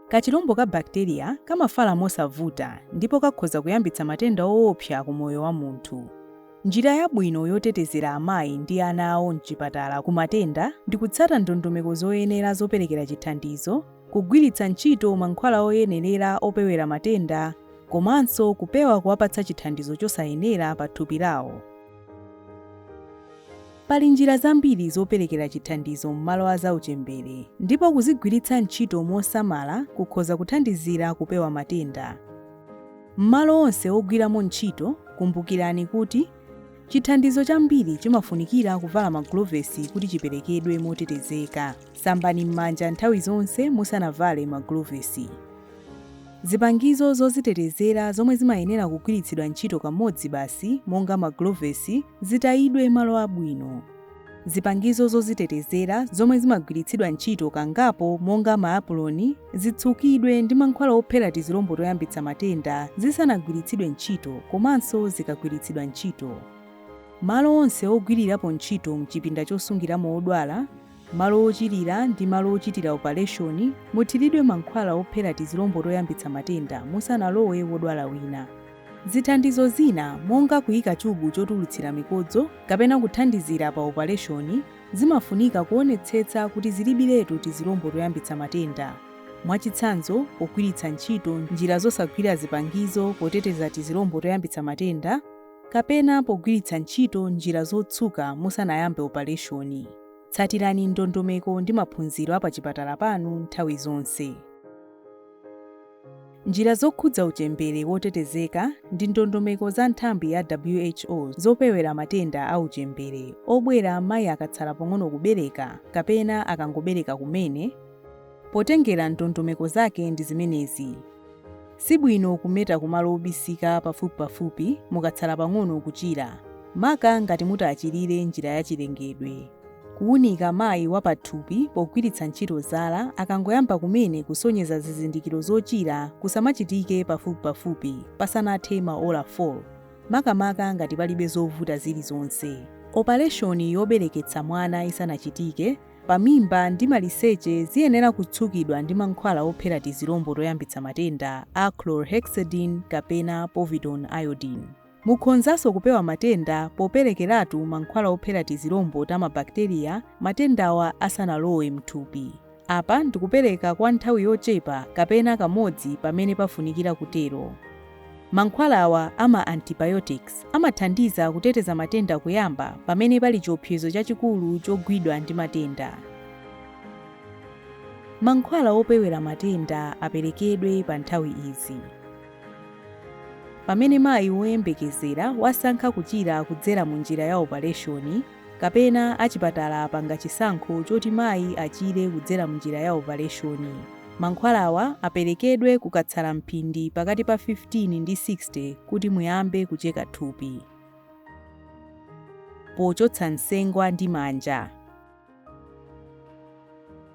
Kachilombo ka bakiteriya kamafala mosavuta ndipo kakhoza kuyambitsa matenda oopsa ku moyo wa munthu. Njira yabwino yotetezera amayi ndi ana awo m'chipatala ku matenda ndi kutsata ndondomeko zoyenera zoperekera chithandizo kugwiritsa ntchito mankhwala oyenerera opewera matenda komanso kupewa kuwapatsa chithandizo chosayenera pa thupi lawo. Pali njira zambiri zoperekera chithandizo m'malo a zauchembere, ndipo kuzigwiritsa ntchito mosamala kukhoza kuthandizira kupewa matenda. M'malo onse ogwiramo ntchito, kumbukirani kuti chithandizo chambiri chimafunikira kuvala magulovesi kuti chiperekedwe motetezeka. Sambani m'manja nthawi zonse musanavale magulovesi. Zipangizo zozitetezera zomwe zimayenera kugwiritsidwa ntchito kamodzi basi monga magulovesi zitayidwe malo abwino. Zipangizo zozitetezera zomwe zimagwiritsidwa ntchito kangapo monga maapuloni zitsukidwe ndi mankhwala ophera tizilombo toyambitsa matenda zisanagwiritsidwe ntchito komanso zikagwiritsidwa ntchito. Malo onse ogwirirapo ntchito m'chipinda chosungiramo odwala malo ochirira ndi malo ochitira opaleshoni, muthiridwe mankhwala ophera tizilombo toyambitsa matenda musanalowe wodwala wina. Zithandizo zina, monga kuika chubu chotulutsira mikodzo kapena kuthandizira pa opaleshoni, zimafunika kuonetsetsa kuti zilibiretu tizilombo toyambitsa matenda, mwachitsanzo, pogwiritsa ntchito njira zosagwira zipangizo poteteza tizilombo toyambitsa matenda kapena pogwiritsa ntchito njira zotsuka musanayambe opaleshoni. Tsatirani ndondomeko ndi maphunziro a pachipatala panu nthawi zonse. Njira zokhudza uchembere wotetezeka ndi ndondomeko za nthambi ya WHO zopewera matenda a uchembere obwera mayi akatsala pang'ono kubereka kapena akangobereka kumene, potengera ndondomeko zake ndi zimenezi. Si bwino kumeta kumalo obisika pafupipafupi mukatsala pang'ono kuchira, maka ngati mutachirire m'njira yachilengedwe. Kuunika mayi wa pathupi pogwiritsa ntchito zala akangoyamba kumene kusonyeza zizindikiro zochira kusamachitike pafupipafupi pasanathe maola 4, makamaka ngati palibe zovuta zilizonse. Opaleshoni yobereketsa mwana isanachitike, pamimba ndi maliseche ziyenera kutsukidwa ndi mankhwala ophera tizilombo toyambitsa matenda a chlorhexidine kapena povidone iodine. Mukhonzanso kupewa matenda poperekeratu mankhwala ophera tizilombo ta mabakiteriya matendawa asanalowe m'thupi. Apa ndikupereka kwa nthawi yochepa kapena kamodzi pamene pafunikira kutero. Mankhwala awa a ma antibiotics amathandiza kuteteza matenda kuyamba pamene pali chiopsezo chachikulu chogwidwa ndi matenda. Mankhwala opewera matenda aperekedwe pa nthawi izi. Pamene mayi woyembekezera wasankha kuchira kudzera mu njira ya opaleshoni, kapena achipatala apanga chisankho choti mayi achire kudzera m'njira ya opaleshoni, mankhwalawa aperekedwe kukatsala mphindi pakati pa 15 ndi 60 kuti muyambe kucheka thupi. Pochotsa nsengwa ndi manja.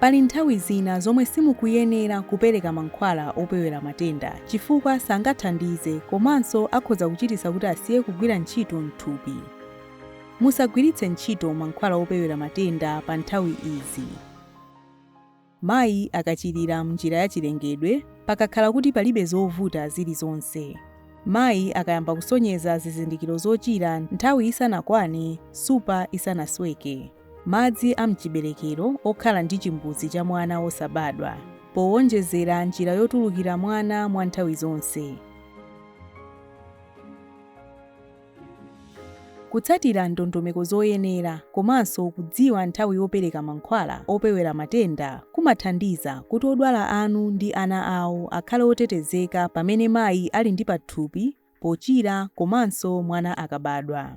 Pali nthawi zina zomwe simukuyenera kupereka mankhwala opewera matenda chifukwa sangathandize komanso akhoza kuchititsa kuti asiye kugwira ntchito m'thupi. Musagwiritse ntchito mankhwala opewera matenda pa nthawi izi. Mayi akachirira m'njira yachilengedwe, pakakhala kuti palibe zovuta zilizonse. Mayi akayamba kusonyeza zizindikiro zochira nthawi isanakwane, nsupa isanasweke. madzi a m'chiberekero okhala ndi chimbudzi cha mwana wosabadwa, powonjezera njira yotulukira mwana mwa nthawi zonse. Kutsatira ndondomeko zoyenera komanso kudziwa nthawi yopereka mankhwala opewera matenda kumathandiza kuti odwala anu ndi ana awo akhale otetezeka pamene mayi ali ndi pathupi, pochira komanso mwana akabadwa.